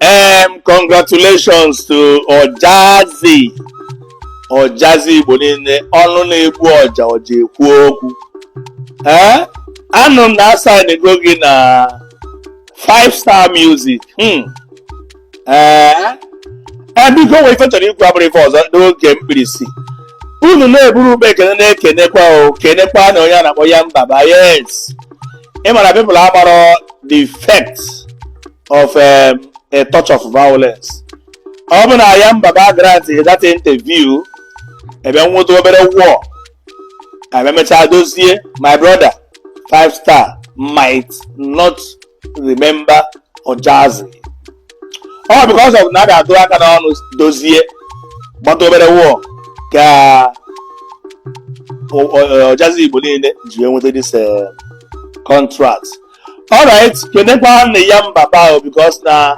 Um, congratulations to Ojazzy Ojazzy Igbo niile ọnụ na-egbu ọja ọja ekwu okwu ee anụ m na a saịnigo gị na five star music hmm. ee eh, biko o nwere ife m chọrọ ikwu abụrọ ife ọzọ n'oge mkpirisi unu na-eburu ube ekene na-ekenekwa o kenekwanụ onye a na-akpọ Yan Baba yes ị mara people agbara the effect of um, a touch of violence ọ bụ na Yan Baba grant that interview ebe e nweta obere war e mechaa dozie my brother five star might not remember Ojazzy all because of na a ga-atụ aka n'ọnụ dozie gbata obere war ka o- o- Ojazzy Igbo niile ji wee nweta this eh, contract alright kenekwanụ Yan Baba o because na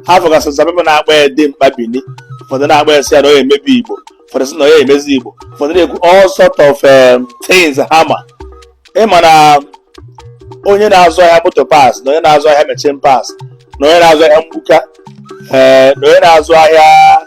a fụgasị some people na-akpọ ya dimkpa Bini ụfọdụ na-akpọ ya sị ya na ọ na-emebi igbo ụfọdụ sị na ọ na-emezi igbo ụfọdụ na-ekwu all sort of um, things ha ma ị ma na onye na-azụ ahịa motor parts na onye na-azụ ahịa machine parts na onye na-azụ ahịa mgbuka ee na onye na-azụ ahịa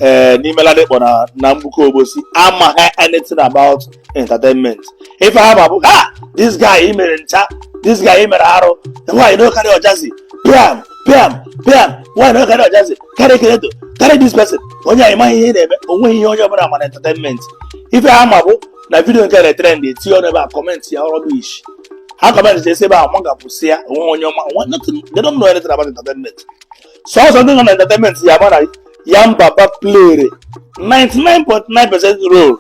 ee n'ime Ladipo na na Mgbuka Obosi amaha anything about entertainment ife ha ma bụ ha this guy i mere ncha this guy i mere arụ why you no carry Ojazzy piam piam piam why you no carry Ojazzy carry Kredo carry this person onye anyị maghị ihe ị na-eme o nweghị ihe onye ọbụla ma na entertainment ife ha ma bụ na vidiyo nke na-etrend etinye ọnụ ebe a kọmentịa rubbish ha kọmentịchasịa ebe a nwa ga-akwụsị ya onwe onye ọma nwa nothing they don't know anything about entertainment sọsọ ndị nọ na entertainment ya-ama na Yan Baba played 99.9 percent role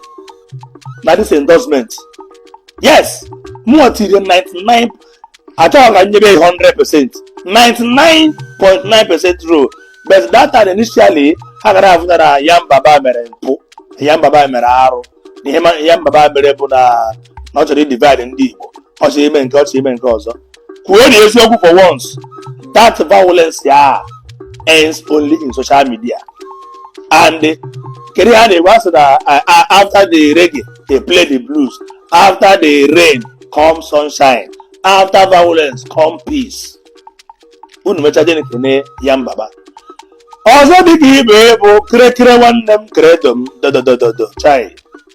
na this endorsement yes more than 99 achọghị m ka m nyebe 100 percent 99.9 percent role but that time initially ha gara afụta na Yan Baba mere mpụ Yan Baba mere arụ na ihe ma- Yan Baba mere bụ na na ọ chọrọ idivide ndị igbo ọ chọrọ ime nke ọ chọrọ ime nke ọzọ kwuonụ eziokwu for once that violence a ends only in social media and kedu ihe a na-ekwu a sị na uh, uh, after the reggae they play the blues after the rain come sunshine after violence come peace unu mechaa jeenụ kene Yan Baba ọzọ dị ka ibe bụ kịrịkịrị nwanne m Kredo m dododododo chai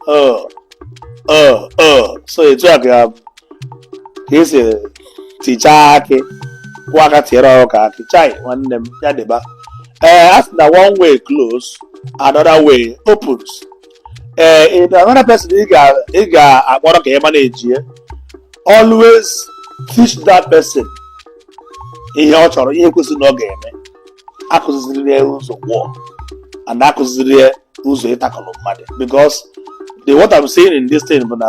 o o o so etu a ka ka e si tichaa akị kwọọ aka tiere ọkụkọ akị chai nwanne m ya diba ee a sị na one way close another way opens ee if another person ị ga ị ga-akpọrọ ka ị manejie always teach that person ihe ọ chọrọ ihe kwesịrị na ọ ga-eme akụziziri ya ụzọ gwụọ and akụziziri ya ụzọ ịtakọrọ mmadụ because the what I'm saying in this thing bụ na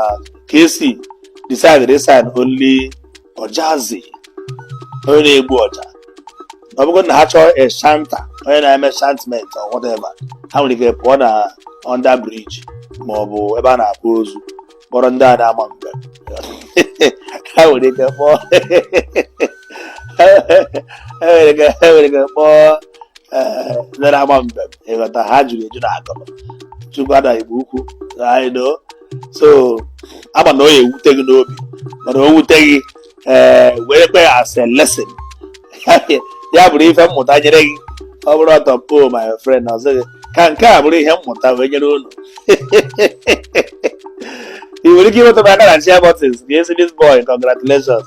Kcee decided to sign only Ojazzy onye na-egbu ọja ọ bụgo na ha chọọ a chanter onye na-eme chantment or whatever ha nwere ike pụọ na under bridge ma ọ bụ ebe a na-akwa ozu kpọrọ ndị a na-ama mbem ha nwere ike kpọọ ha nwere ike ha nwere ike kpọọ eh, ndị na-ama mbem ị ghọta ha juru eju na akụrụ chukwu ada igbo ukwu I know. so ama na ọ ya-ewute gị n'obi mana o wute gị ee werekwa ya as a lesson ya bụrụ ife mmụta nyere gị ọ bụrụ ọtọ po my friend na ọzọ gị ka nke a bụrụ ihe mmụta wee nyere unu ị nwere ike ịmetụ m aka na share buttons ka a sị this boy congratulations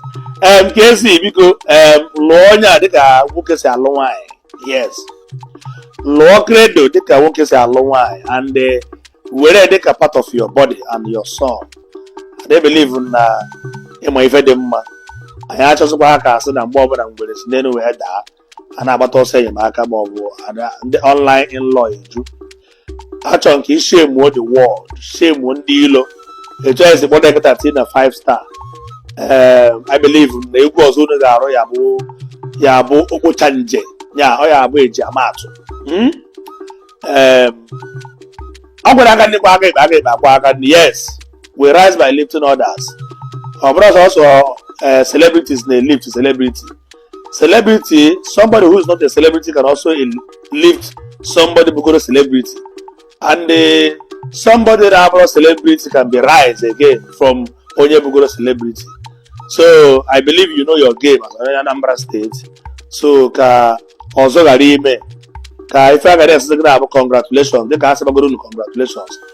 em Kcee biko em lụọ onye a dịka nwoke si alụ nwaanyị yes lụọ kredo dịka nwoke si alụ nwaanyị and eh, were dịka part of your body and your soul I dey believe na ịma ife dị mma anyị achọzikwaha ka a sị na mgbe ọbụla ngwere si n'elu wee daa a na-agbata ọsọ enyemaka ma ọ bụ ada- ndị online in-law eju achọrọ m ka i shemuo the world shemuo ndị ilo etu anyị si kpọta eketa tii na 5 star ee i believe na egwu ọzọ unu ga-arụ ya bụ ya bụ okpocha nje ya ọ ya-abụ eji ama atụ Mm? Em, ọ gwara aka nri kwọọ aka ekpe aka ekpe akwọọ aka nri yes we rise by lifting others ọ bụrọ sọsọ eh, celebrities na-elift celebrity celebrity somebody who is not a celebrity can also eh lift somebody bugoro celebrity and uh, somebody that abụrọ celebrity can be rise again from onye bugoro celebrity so i believe you know your game as onye anambra state so ka ọzọ ghara ime ka ife a ga na-asị gị na-abụ congratulations dịka a sịbagoro unu congratulations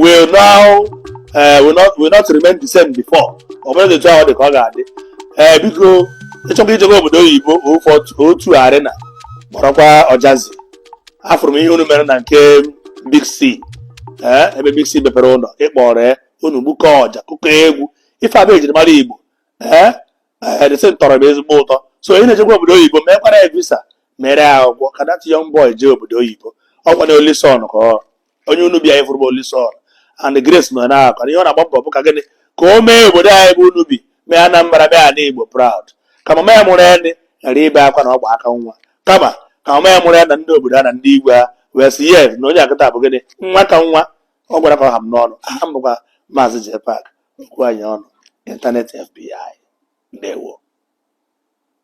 will now eh, will not will not remain the same before ọ bụrụ na etu ahụ dị ka ọ ga-adị ee biko ị chọkwa ijebe obodo oyibo ụfọdụ O2 arena kpọrọkwa Ojazzy afụrụ m ihe unu mere na nke big c ee ebe big c mepere ụlọ ị kpọrọ ya unu gbukọ ọja kụkọ egwu ife a bụ ejirimara igbo ee ee this thing tọrọ m ezigbo ụtọ so ị na-ejekwa obodo oyibo mekwara ya visa mere ya akwụkwọ ka that young boy jee obodo oyibo ọ kwa na only son ka ọ onye Unubi a ị fụrụ bụ Olison and Grace nọ na akwa ihe ọ na-agba mbọ bụ ka gịnị ka o mee obodo anyị bụ Unubi mee Anambra mee ana Igbo proud ka mama ya mụrụ ya ghara ibe akwa na ọ gba aka nwa kama ka mama ya mụrụ ya na ndị obodo a na ndị igwe ha wee sị yes na onye a kịta bụ gịnị nwa ka nwa ọ gwara ka ọ ha m n'ọnụ aha m bụkwa maazị Jpac okwu anyị ọnụ internet FBI ndewo